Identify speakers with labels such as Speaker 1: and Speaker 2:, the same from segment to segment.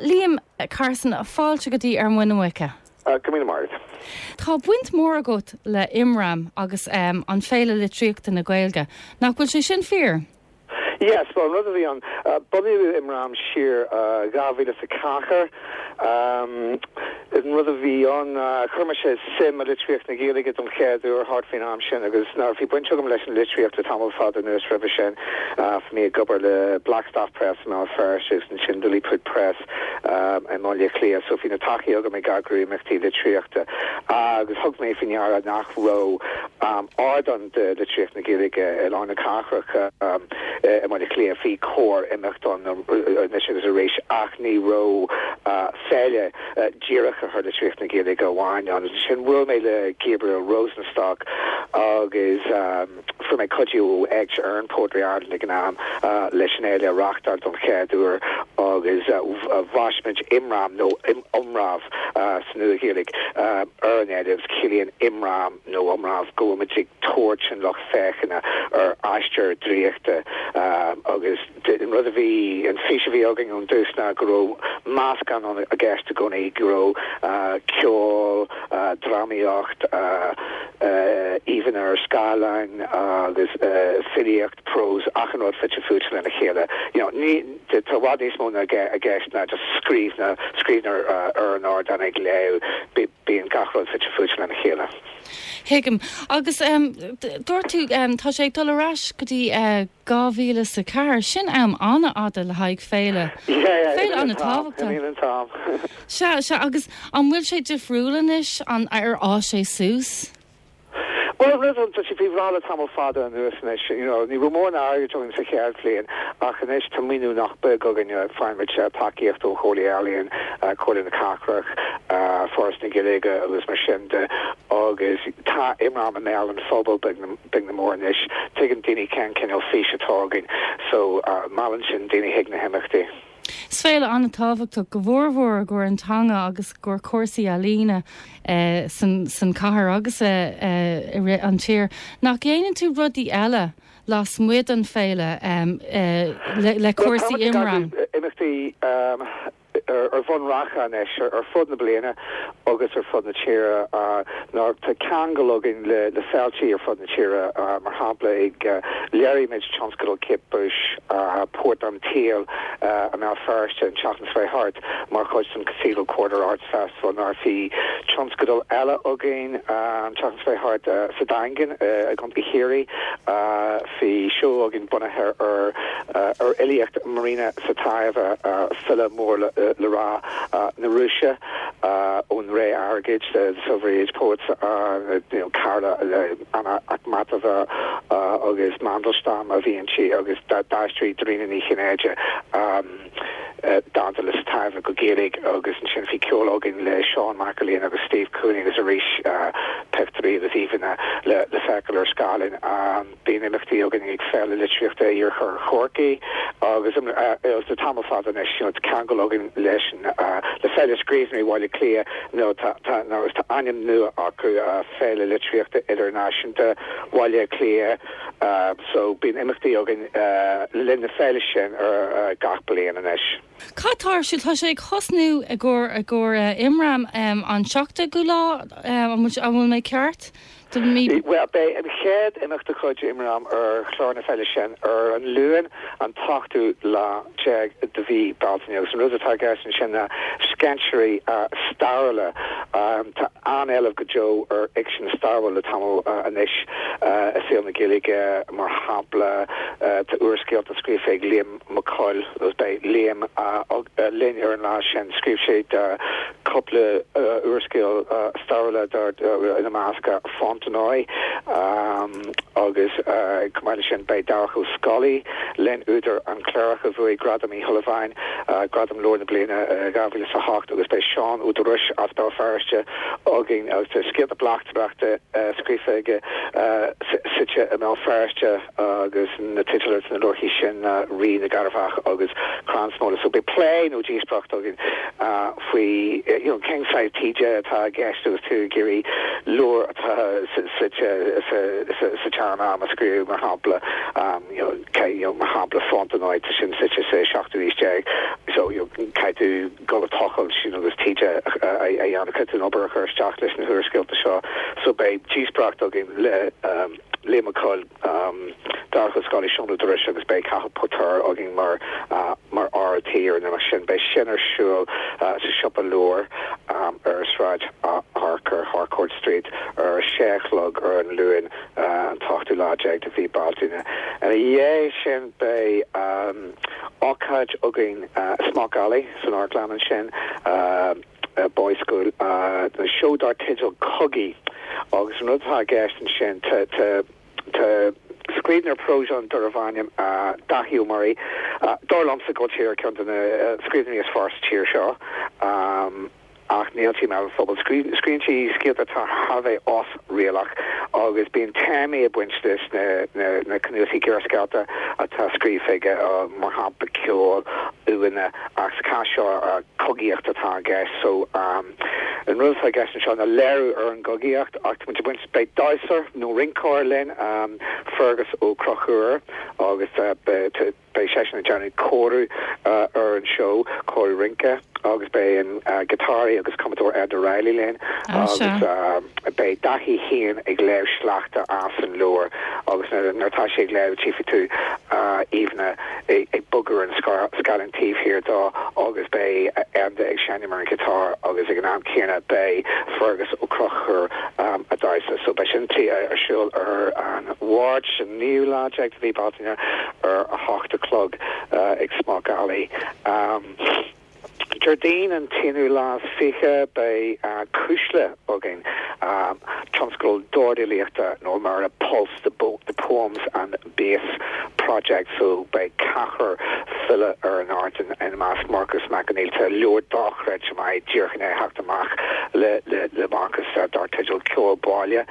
Speaker 1: Liam Carson, Fáilte go dtí Ar Muin na Muice. Go raibh míle maith agat.
Speaker 2: Tá
Speaker 1: baint mhór agat le Imram agus an Féile Litríochta na Gaeilge, nach bhfuil sé sin fíor? Yes, bhuel
Speaker 2: an rud a bhí ann, bunaíodh Imram siar 2004. An rud a bhí ann ná chuir mise suim i litríocht na Gaeilge don chéad uair thart faoin am sin agus bhí baint agam leis an litríocht le tamall fada anuas roimhe sin. Bhí mé ag obair le Blackstaff Press i mBéal Feirste agus ansin Lilliput Press i mBaile Átha Cliath so bhí an taithí agam ag eagrú imeachtaí litríochta agus thug mé faoi deara nach raibh um ardán do litríocht na Gaeilge i lár na cathrach i mBaile Átha Cliath. Bhí corrimeacht ann anois agus arís ach ní raibh féile dírithe ar litríocht na Gaeilge amháin ann. Ansin bhuail mé le Gabriel Rosenstock agus fuair mé cuidiú ó Éigse Éireann Poetry Ireland ag an am leis an fhéile a reachtáil don chéad uair agus bhaist muid Imram nó Iomramh sa Nua-Ghaeilge ar an fhéile. Ciallaíonn Imram. nó Iomramh go bhfuil muid ag tabhairt an lucht féachana ar aistear draíochta agus an rud a bhí, an fís a bhí againn ón dtús ná go raibh meascán ann i gceist i gcónaí, go raibh ceol, drámaíocht, íomhanna ar scáileán agus filíocht, prós, achan rud fite fuaite lena chéile. You know, ní, tá i bhfad níos mó i gceist ná just scríbhneoir ar an ardán ag léamh. Bíonn gach rud fite fuaite lena chéile. Tuigim.
Speaker 1: Agus dúirt tú, tá sé ag dul ar ais go dtí dhá mhíle is a ceathair. Sin am an-fhada le haghaidh féile. Féile an-tábhachtach. Imíonn an t-am. Sea, sea. Agus an bhfuil sé difriúil anois? Ar fhás sé suas?
Speaker 2: Bhuel, rud atá sé faoi bhláth le tamall fada anuas anois, you know, ní raibh mórán airgid againn sa chéad bhliain ach anois tá maoiniú nach beag againne, faighaimid tacaíocht ó Chomhairle Ealaíon, Comhairle na Cathrach, Foras na Gaeilge agus mar sin de agus tá Imram i mbéal an phobail, beag nó mór anois, tuigeann daoine cén cineál fís atá againn so meallann sin daoine chuig na himeachtaí. Is
Speaker 1: féile an-tábhachtach go mór mór i gcomhair an teanga agus i gcomhair cúrsaí ealaíne san cathair agus i rith an tír. Nach ndéanann tú rudaí eile lasmuigh den féile le cúrsaí Imram? Tá imeachtaí
Speaker 2: ar bhonn reatha anois ar fud na bliana agus ar fud na tíre. Nó tá ceangal againn le féiltí ar fud na tíre, mar shampla léirigh muid Tionscadal Kate Bush, Port an tSaoil i mBéal Feirste an tseachtain seo thart mar chuid den Cathedral Quarter Arts Festival nó bhí tionscadal eile againn an tseachtain seo thart sa Daingean i gContae Chiarraí bhí seó againn bunaithe ar fhilíocht Marina Tsvetaeva, file mór le rá na Rúise. ón ré airgid, the silver age poets, cara le Anna Akhmatova agus Mandelstam a bhí inti agus d'aistrigh Dairena Ní Chinnéide dánta le Tsvetaeva go Gaeilge agus ansin bhí ceol againn le Seán Mac Erlaine agus Steve Cooney agus arís pictiúirí agus íomhanna le feiceáil ar scáileán. Bíonn imeachtaí againn ag Féile Litríochta Iarthar Chorcaí agus le tamall fada anois tá ceangal againn leis le Féile Scríbhneoirí Bhaile Átha Cliath nó tá ainm nua acu, Féile Litríochta Idirnáisiúnta Bhaile Átha Cliath so bíonn imeachtaí againn le linn na féile sin gach bliain anois. Cad tá ar siúl?
Speaker 1: Tá sé ag tosnú i gcomhair Imram an 7ú lá, an bhfuil mé ceart?
Speaker 2: Bhuel, beidh an chéad imeacht de chuid imram ar chlár na féile sin ar an Luan an t-ochtú lá déag de mhí Bealtaine agus an rud atá i gceist ansin ná scéinséirí stairiúla. Tá an-éileamh go deo ar fhicsean stairiúil le tamall anois i saol na Gaeilge, mar shampla tá úrscéalta scríofa ag Liam. Mac Cóil agus beidh Liam linn ar an lá sin. Scríobh sé cúpla úrscéal stairiúla, ina measc Fontenoy agus chomh maith leis sin beidh Darach Ó Scolaí linn údar An Cléireach a bhuaigh Gradam Uí Shúilleabháin, gradam leabhar na bliana, 2008 agus beidh Seán Ó Dúrois as Béal Feirste againn agus tá scéalta bleachtaireachta scríofa aige suite i mBéal Feirste. agus na teidil ar na leabharthaí sin ná Rí na gCearrbhach agus Crann Smola. So beidh plé nó díospoireacht againn faoi you know cén saghas taighde atá i gceist agus tú ag iarraidh leabhar atá suite sa tseanam a scríobh mar shampla you know cé you know mar shampla Fontenoy tá sin suite sa seachtú aois déag so you know caithfidh tú dul ag tochailt agus taighde a dhéanamh caithfidh tú an obair a chur isteach leis na húrscéalta seo so beidh díospoireacht againn le um, Liam Mac Cóil, Darach Ó Scolaí, Seán Ó Dúrois agus beidh Cathal Póirtéir againn mar mar fhear tí ar an imeacht sin beidh sin ar siúl sa siopa leabhar ar Sráid Harker, Harcourt Street, ar a sé a chlog ar an Luain an t-ochtú lá déag de mhí Bealtaine. Ina dhiaidh sin beidh ócáid againn i Smock Alley san amharclann ansin. Boys' School, le seó dar teideal Cogaí agus an rud atá i gceist ansin, tá scríbhneoir próis ann darbh ainm Daithí Ó Muirí, dar liomsa go tír ceann de na scríbhneoirí is fearr sa tír seo ach níl sé i mbéal an phobail. Scríonn sé scéalta atá thar bheith osréalach agus bíonn téamaí ag baint leis na cnuasaigh gearrscéalta atá scríofa aige mar shampla ceol, uaigheanna agus sa chás seo, cogaíocht atá i gceist. So, an rud atá i gceist anseo ná léiriú ar an gcogaíocht ach muid ag baint, beidh damhsóir nó rinceoir linn, Fearghus Ó Conchúir agus beidh seisean ag déanamh cóiriú ar an seó, cóiriú rince agus beidh an giotáraí agus cumadóir Enda Reilly linn agus beidh Daithí féin ag léamh sleachta as an leabhar agus nuair atá sé ag léamh tchífidh tú íomhánna ag bogadh ar an scáileán taobh thiar dó agus beidh Enda ag seinm ar an ghiotár agus ag an am céanna beidh Fearghus Ó Conchúir ag damhsa. So beidh sin ar siúl ar an Mháirt, an 9ú lá déag de mhí Bealtaine ar a hocht a chlog ag Smock Alley. Déardaoin an t-aonú lá is fiche beidh Cuisle againn, tionscadal dordfhilíochta nó mar a Pulse the poems and bass project so beidh ceathrar file ar an ardán, ina measc Marcus Mac Conghail, tá leabhar dochreidte maith díreach i ndiaidh teacht amach le Marcus dar teideal Ceol Baile.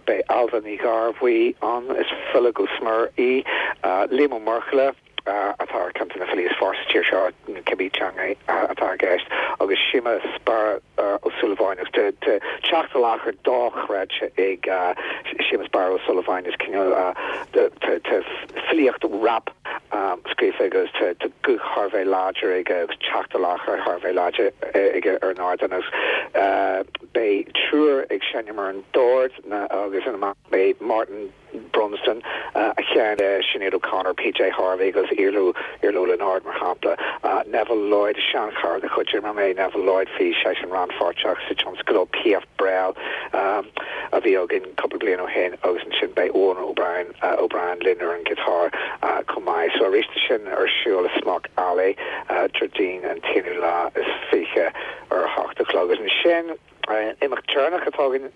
Speaker 2: Beidh Ailbhe Ní Ghearbhuigh ann, is file go smior í, Liam Ó Muirthile, atá ar ceann de na filí is fearr sa tír seo, cibé teanga atá i gceist, agus Séamus Barra Ó Súilleabháin. Agus tá teacht i láthair dochreidte ag Séamus Barra Ó Súilleabháin. Is cineál tá filíocht rap scríofa aige agus tá guth thar a bheith láidir aige agus teacht i láthair thar a bheith láidir aige ar an ardán. Agus beidh triúr ag seinm ar an dord agus ina measc beidh Martin Brunsden, a sheinn le Sinéad O'Connor, PJ Harvey agus Iarla Ó Lionáird, mar shampla. Neville Lloyd, seanchara de chuid IMRAM é Neville Lloyd, bhí seisean rannpháirteach sa tionscadal Piaf Brel a bhí againn cúpla bliain ó shin agus ansin beidh Eoin O'Brien linn ar an ghiotár chomh maith. So arís tá sin ar siúl i Smock Alley, Déardaoin an t-aonú lá is fiche ar a hocht a chlog agus ansin, Imeacht deireanach atá againn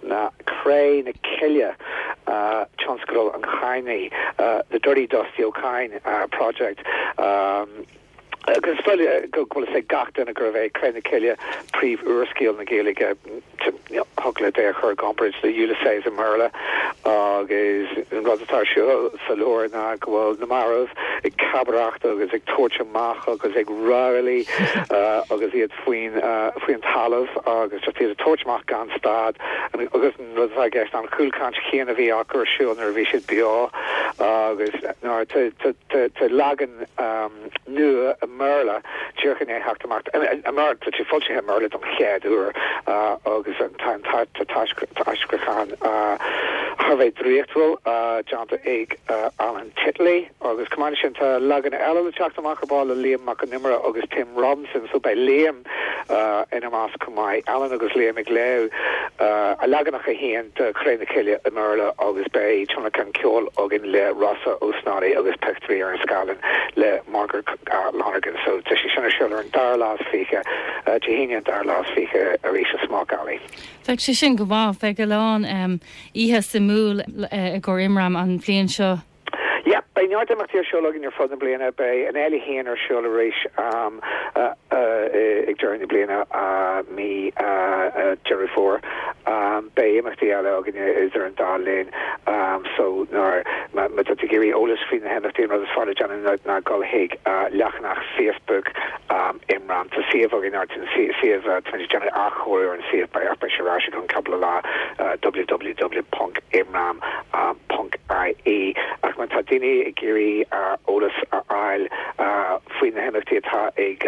Speaker 2: ná Cré na Cille, Tionscadal an Chadhnaigh, The Dirty Dusty Ó Cadhain Project. Is dóigh go bhfuil fhios ag gach duine gurbh é Cré na Cille príomhúrscéal na Gaeilge. Thiocfadh leat é a chur i gcomparáid le Ulysses i mBéarla agus an rud atá ar siúl sa leabhar ná go bhfuil na mairbh ag cabaireacht agus ag tabhairt amach agus ag rámhaillí agus iad faoin talamh agus just iad ag tabhairt amach gan stad agus an rud atá i gceist ná an chúlchaint chéanna a bhí acu ar siúl nuair a bhí siad beo agus tá leagan nua i mBéarla díreach ag theacht amach i mBéarla, tá sé foilsithe i mBéarla don chéad uair agus tá an t-aistriúchán thar a bheith draíochtúil déanta ag Alan Titley. Agus chomh maith le sin, tá leagan eile le teacht amach ar ball le Liam Mac an Iomaire agus Tim Robinson, so beidh Liam ina measc chomh maith. Alan agus Liam ag léamh a leaganacha féin de Cré na Cille i mBéarla agus beidh tionlacan ceoil againn le Rossa Ó Snodaigh agus peictiúirí ar an scáileán le Margaret Lonergan. So tá sé sin ar siúl ar an dara lá is fiche, Dé hAoine an dara lá is fiche arís i Smock Alley. Bheadh sé sin go
Speaker 1: maith. Bheadh a lán oíche suimiúil i gcomhair Imram an bhliain seo. Yep, beidh
Speaker 2: neart imeachtaí ar siúl againn ar fud na bliana. Beidh an fhéile féin ar siúl arís ag deireadh na bliana, mí Dheireadh Fómhair. Beidh imeachtaí eile againn idir an dá linn so má tá tú ag iarraidh eolas faoi na himeachtaí an rud is fearr le déanamh ná dul chuig leathanach Facebook Am Imram, tá suíomh againn, ar an suíomh tá muid ag déanamh athchóiriú ar an suíomh beidh beidh sé ar ais i gceann cúpla lá www.imram.ie ach má tá daoine ag iarraidh eolas a fháil faoi na himeachtaí atá ag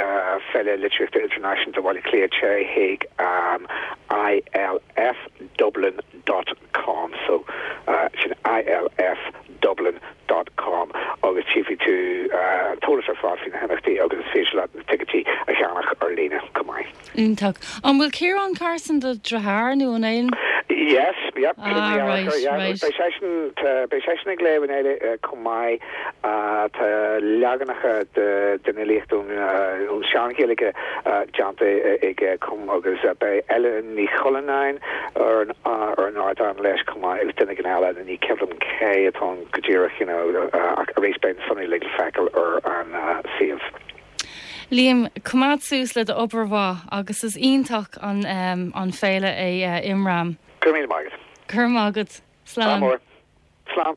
Speaker 2: Féile Litríochta Idirnáisiúnta Bhaile Átha Cliath téigh chuig ilfdublin dot com so sin ilf Dublin dot com agus tchífidh tú an t-eolas ar fad faoi na himeachtaí agus is féidir leat na ticéid a cheannach ar líne. Go maith. Iontach. An
Speaker 1: bhfuil Ciarán Carson do dheartháir nó an é? Yes, yep, sin Ah,
Speaker 2: dearthár, right, yeah.
Speaker 1: right.
Speaker 2: Beidh seisean, tá, beidh seisean ag léamh linn chomh maith. Tá leaganacha de, den fhilíocht ón, ón Sean-Ghaeilge déanta aige chomh agus beidh Eiléan Ní Chuilleanáin ar, ar an ardán leis chomh maith agus duine éigin eile. Ní cuimhin liom cé atá ann go díreach you know ach arís beidh na sonraí uilig le feiceáil ar an suíomh.
Speaker 1: Liam, coimeád suas le do obair mhaith agus is iontach an an féile é
Speaker 2: Imram. Go raibh míle maith
Speaker 1: agat. Go raibh
Speaker 2: maith agat. Slán.
Speaker 1: Slán.